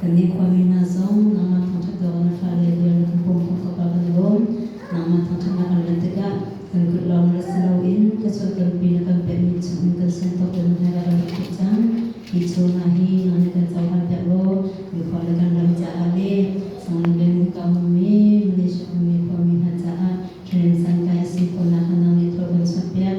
Kan nikhuami hna zong nangmah thangṭhatnak na fale le na kan pumpak kapa kan lawm. Nangmah thangṭhatnak an rat tikah kan kut lawng rat si loin ka chuahtlunpi na kan pekmi chungin kan sung tuk le nahnai ah kan rak thut cang. Hi chung hna hi nang nih kan cohlan pek law kan khua le kan ram caah le nangmah Bengal ka ummi Malaysia ummi khuami hna caah thilem sankai a si khawhnak kha nang nih thawl kan chuahpiak.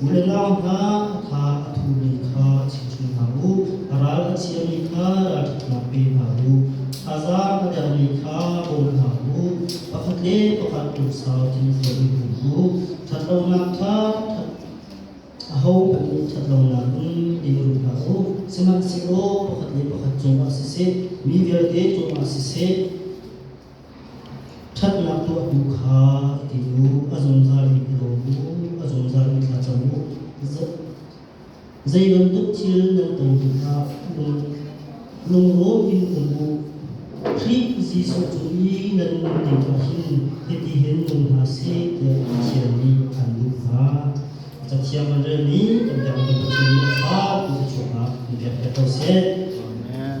Vurhlang hna a tha a thumi kha chimhmi hna u, a ral a chiami kha ralṭhatnak pe hna u, thazaang a dermi kha bawm hna u, pakhat le pakhat lungsau tlinfel in um u. Ṭhatlonak kha ṭhat ahohmanh nih ṭhatlonak in in um hna u, sihmanhsehlaw pakhat le pakhat cungah siseh, mi vialte cungah siseh, Ṭhatnak tuah hnu kha a ti u, a zungzal in i lawm u, a zungzal in thla cam u. Zei bantuk thil nan ton tikah um, lunglawm in um u. Khrih Jesuh cu i nan ning ah hin hiti hin nung hna seh tiah Pathian nih an duh hna. Cathiang an rel mi kan biakmi Pathian nih a ṭha ti thluachuah ah in pek ve ko seh. Amen.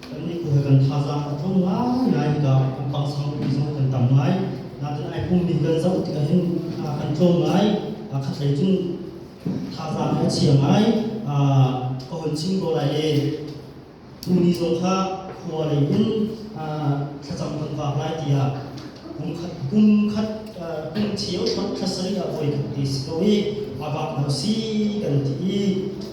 Kan nikhua kan thazaang a tho ngaingai tikah kan pangsangpi zong kan tam ngai. Natin ai pummi kan zoh tikah hin a kan tlawm ngai. A khatlei cun thazaang a chia ngai. Ka hun chim ko lai e, tuni zong kha khua lei in thlacam kan vak lai tiah pumkhat pumkhat pumthio thot thla sarih ah voi khat te si ko i a vak na si kan ti i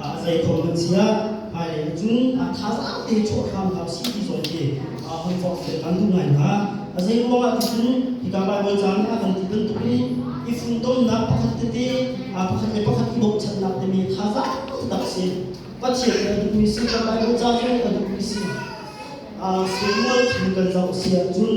Ah zei thawng nan chia hmailei na cung ah thazaang te chuah hram hlah si ti zong khi ah hon forh fen nan duh ngai hna a zei ruangah ticun hika Bible caan ah kan ti bantuk in i fundomnak pakhat tete ah pakhat le pakhat i bochannak teme thazaang tak si Pathian kan duhmi si kan Bible caan cu kan duhmi si ah seimual thil kan zoh si ahcun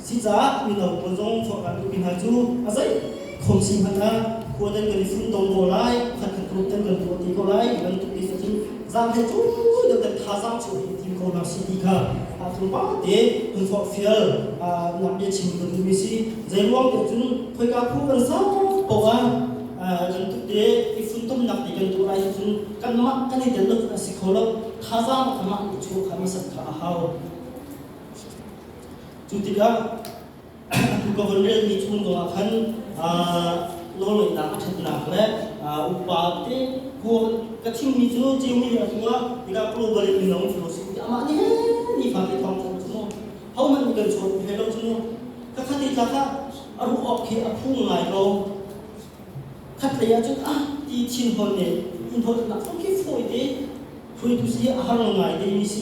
Sicaah mino pawl zong forhran duhmi hna cu a zei khom si hmanh ah khua nan kan i fun dodor lai, khat kan rawt nan kan tuah ti ko lai, ti bantuk ti cun zaang he cui nan kan thazaang chung i tim ko hna si ti kha a thurba te kan forhfial nak bia chim kan duhmi si. Zei ruang ko cun khoika phu kan sau poah nan tukte i funtumnak ti kan duh lai cu cun kanmah kan i tel loh a si kho lo thazaang kamah i chuah kha masak kha a hau. Cu tikah atu ka vun relmi chun dongah khan nawlngeihnak a ṭhatnak le upa te ka chimmi cu ceumi a cungah tikah global in mino an ṭhu si amah nih ni kha kan thawng thang cu mu hohmanh nih kan chawt hlei lo cu mu ka khat i tlak a ruh awk khi a phung ngai ko khat lei ah cun ah ti thinhon nih in holhnak kong khi fawi te hruaitu si a har ngai te mi si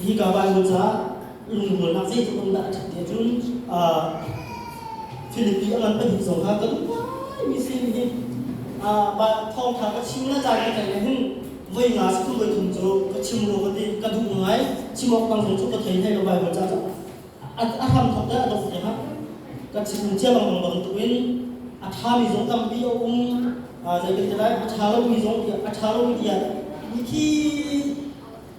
hi ka van nu ca lungrualnak zeitluk in dah a ṭhat ti ahcun Philippi a ngan pahnih zong kha ka duhgai mi sin hi thawngṭha ka chim na caan ka tlaih le hin voi nga si kum voi thum cu ka chim ru ka ti ka duh ngai chim awk tang zong cu ka thei thei lo Bible ca cu a hram thok te a dok te kha ka chim chia bang bang tuk in a ṭha mi zong tampi a um zei kan ti lai a ṭha lomi zong a ṭha lomi tiah mi khi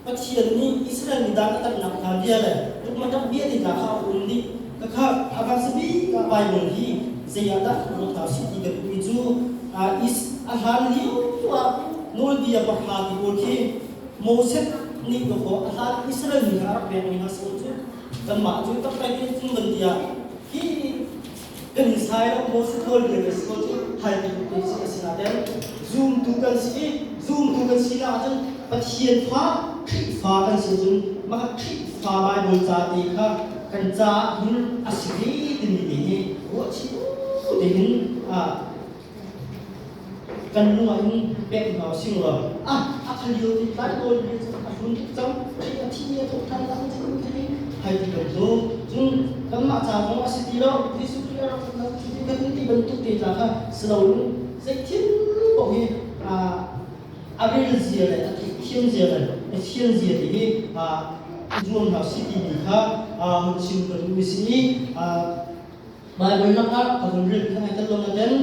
Pathian nih Israel mi dang a damnak hna bia le tukmadang bia te hna kha a um dih. Khakha a kan zabi ah Baibal hi zei ah dah ruat hna sih ti kan duhmi cu a hlan lio ah Nawlbia pahra ti pawl khi Moses nih dawh a hlan Israel mi kha a rak pekmi hna a si cu kanmah cu tak pek in tlung kan ti ah hi Kan Israel ah Moses le Mexico cu haitu tu si a si ahcun zumtu kan si i zumtu kan si lah ahcun Pathian fa Khrihfa kan si ahcun mah Khrihfa Baibal ca te kha kan caah hin a si ve timi te hi ruah chim dingin kan lung ah hin pek hna sing ra a a kha lio ti tlai dawn hi chu a hlun tuk cang thi a thi ne to than lang chin te hi hai ti lo zo chung kan mah cha zong a si ti lo Jesuh Christ a rak lang ti kan ti bantuk te ta kha slow lung zei thil bo hi a a rel zia le a thiam zia le a thian zia ti hi a zuam hna si ti mi kha hun chim kan mi si i Baibal lakah a rulrinh thawngin kan lung a den.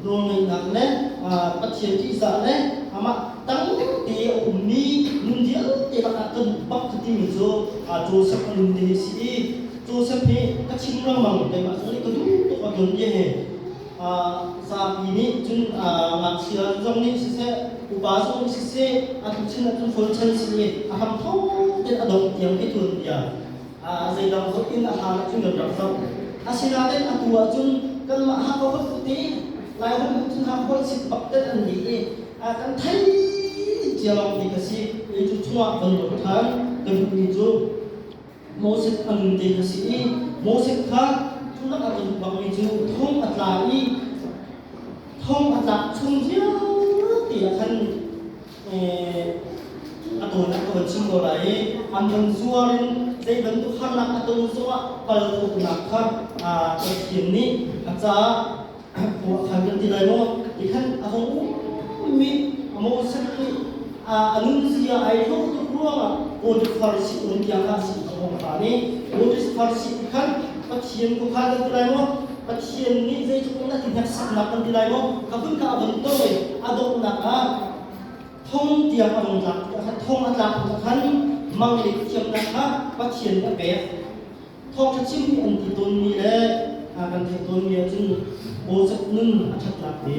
Nawlngeihnak le Pathian ṭihzah le amah dang dengte a ummi nun vialte lakah kan um bak ka timi cu Josef a nun te hi a si i Josef hi ka chim lengmang keimah cu ka duh tuk a tuanbia he zapi nih cun ngakchia zong nih siseh upa zong nih siseh a tuchan ah cun hlawl chan si i a hram thawk tein a dongh tiang i tuanbia zeidang zong in a hlan ah thil kan rak zoh. Asinain atu ah cun kanmah haka holh tete Lairam Hmunthang holh sit bak tel an ni i kan thei cia lawng hi ka si. Kei cu chungah kan lut ṭhan. Ka duhmi cu Moses a run te ka si i Moses kha cu lak a tlun bangmi cu thong a tla i thong a tlak chung vialte ah khan a kawl a kawl chin ko lai i an lung zuar in zei bantuk harnak a ton zongah pal uknak kha Pathian nih a caah khua khan kan ti lai maw ti khan a hong ummi a Moses nih a nunzia ai hloh tuk ruangah God far si on tiang kha a si a hong khan i God far si khan Pathian ku kha kan ti lai maw Pathian nih zeitluk in a ti hneksaknak kan ti lai maw? Ka hun ka a vun tawi, a donghnak ah thong tiang a vung tlak thong a tlak hnu khan mang le thiamnak kha Pathian nih a pek. Thawngṭha chim hi an ti tawnmi le kan theih tawnmi ahcun bawzet nun a ṭhatnak te.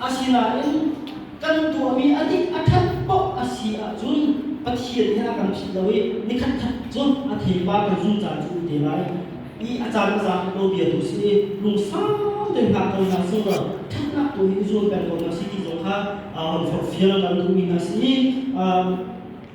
Asinain kan tuahmi a nih a ṭhat paoh a si ahcun Pathian hi a kan philh lo i ni khatkhat cu a theipar kan zungzal cu te lai i a caan a za nawlbia tu sin i lungsau tein ngakṭamnak sunglawi ṭhatnak tu in i zuam peng ko hna si ti zong kha forhfial kan duhmi hna sin i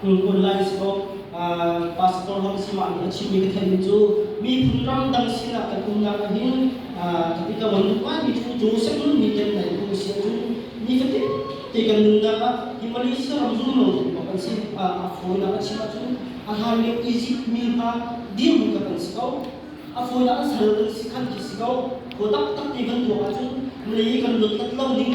Tulkun lai si ko. Pastor Ram si mah a chimmi ka theihmi cu miphun ram dang sinah ka tumnak a hin ka ti ka von duh mi cu cu seng nun ni kan nai tu si cu ni ka ti te kan nunnak ah hi Malaysia ram zum lo tu bak an si a fawinak a chim cu a hlanle Egypt mi hna dirhmun ka kan si ko a fawinak a sal kan si khan ki si ko kho tak tak te kan tuah ahcun mei kan luat lat lo ning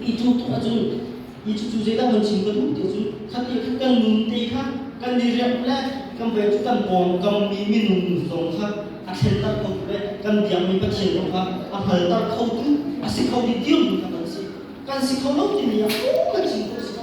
i tuk tuk ahcun i cucu zeidah kan chim ka duh ti cu khat i khat kan nun te kha kan i remh le kan vai cu kan pawngkammi minung zong kha a thlenter kho tu le kan biakmi pathian kong kha a hngalter kho tu a si kho mi dirhmun kha kan si kan si kho lo timi ah kan chim khawh a si ko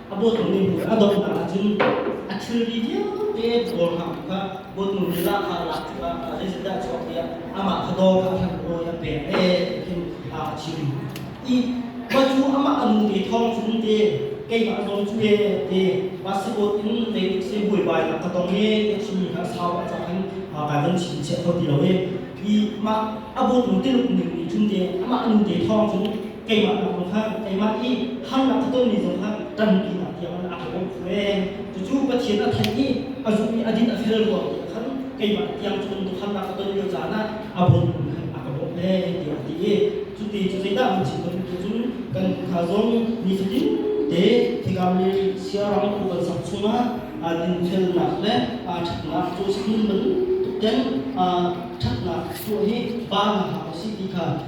a bawtnu nih a donghnak ahcun a thilri vialte kawl hang kha bawtnu nih rah kha lak tikah zeitindah chuak tiah amah kha dawr kha thlan rawl a pek e hin a chim i mah cu amah kan nu ve thawng cun te keimah zong cu e te passport in kei nih se buaibai nak ka tong e te chimmi kha sau a cang in kai van chim chiah kho ti lo e i mah a bawtnu tiluk ning nih cun te amah nu te thawng cun keimah nak zong hlah keimah i harnak a tonmi zong hlah tampi nak tiang an aa bawm ve cucu Pathian a thenh i a zum i a din a fel ruang ti khan keimah tiang cun harnak a ton lio caan ah a bawm khan a ka bawm le tiah a ti i cuti cu zeidah mun chim bantuk cun kan hna zong nifatin te thikam le siarang ku kan sak chungah dinfelnak le ṭhatnak cu si nun bantuk ten ṭhatnak tuah hi ba na hak a si ti kha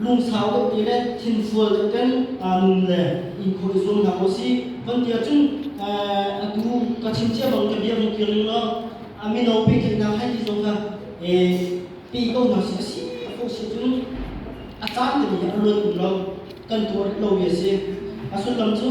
lungsau kan ti le thinfual kan kan nun le inkhawh i zuam hna ko si kan ti ahcun atu ka chim cia bang ka bia hung kir ning law a mino pehtlaihnak hai ti zong kha pe ko hna si a si ko si cun a caan temi a luan um lo kan tuar lo mi a si a sullam cu